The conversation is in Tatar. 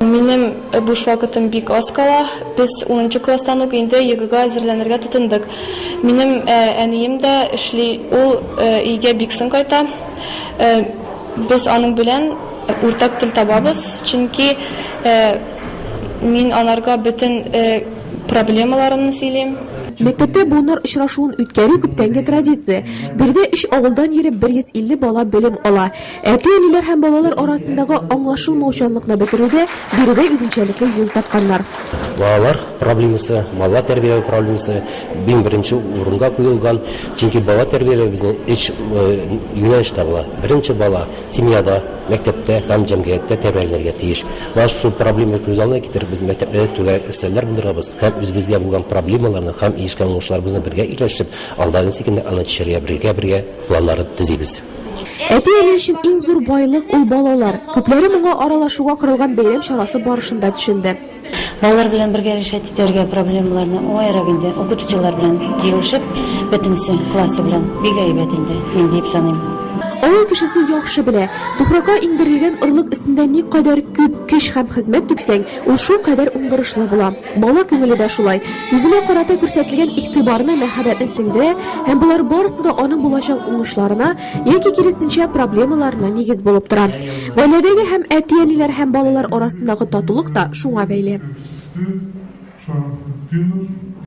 Минем буш вакытым бик аз кала. Без унынчы класстан ук инде ЕГЭга әзерләнергә тотындык. Минем әнием дә эшли, ул өйгә бик соң кайта. Без аның белән уртак тел табабыз, чөнки мин анарга бөтен проблемаларымны сөйлим. Мәктәптә буыннар очрашуын үткәрү, күптәнге традиция. Биредә өч авылдан йөреп 150 бала белем ала. Әти-әниләр һәм балалар арасындагы аңлашылмаучанлыкны бетерүдә биредә үзенчәлекле юл тапканнар. Балалар проблемасы, бала тәрбияләү проблемасы иң беренче урынга куелган, чөнки бала тәрбияләү безнең өч юнәлештә була. Беренче бала семьяда, мәктәптә һәм җәмгыятьтә тәрбияләнергә тиеш. Менә шушы проблема күз алдына китереп, без мәктәпләрдә түгәрәк өстәлләр булдырабыз һәм үзебезгә булган проблемаларны һәм ирешкән уңышларыбызны бергә ирләшеп, алда ничек инде аны чишәргә бергә-бергә планнар төзибез. Әти-әни өчен иң зур байлык, ул балалар. Күпләре моңа аралашуга корылган бәйрәм чарасы барышында төшенде. Балалар белән бергә решать итәргә проблемаларны уңаерак инде, укытучылар белән җыелышып, бөтенесе классы белән. Бик әйбәт инде, мин диеп саныйм. Авыл кешесе яхшы белә, туфракка иңдерелгән орлык өстендә никадәр күп көч һәм хезмәт түксәң, ул шулкадәр уңдырышлы була. Бала күңеле дә шулай. Үзенә карата күрсәтелгән игътибарны, мәхәббәтне сеңдерә һәм болар барысы да аның булачак уңышларына яки, киресенчә, проблемаларына нигез булып тора. Гаиләдәге һәм әти-әниләр һәм балалар арасындагы татулык та шуңа бәйле. Сүз Шәрәфетдинов.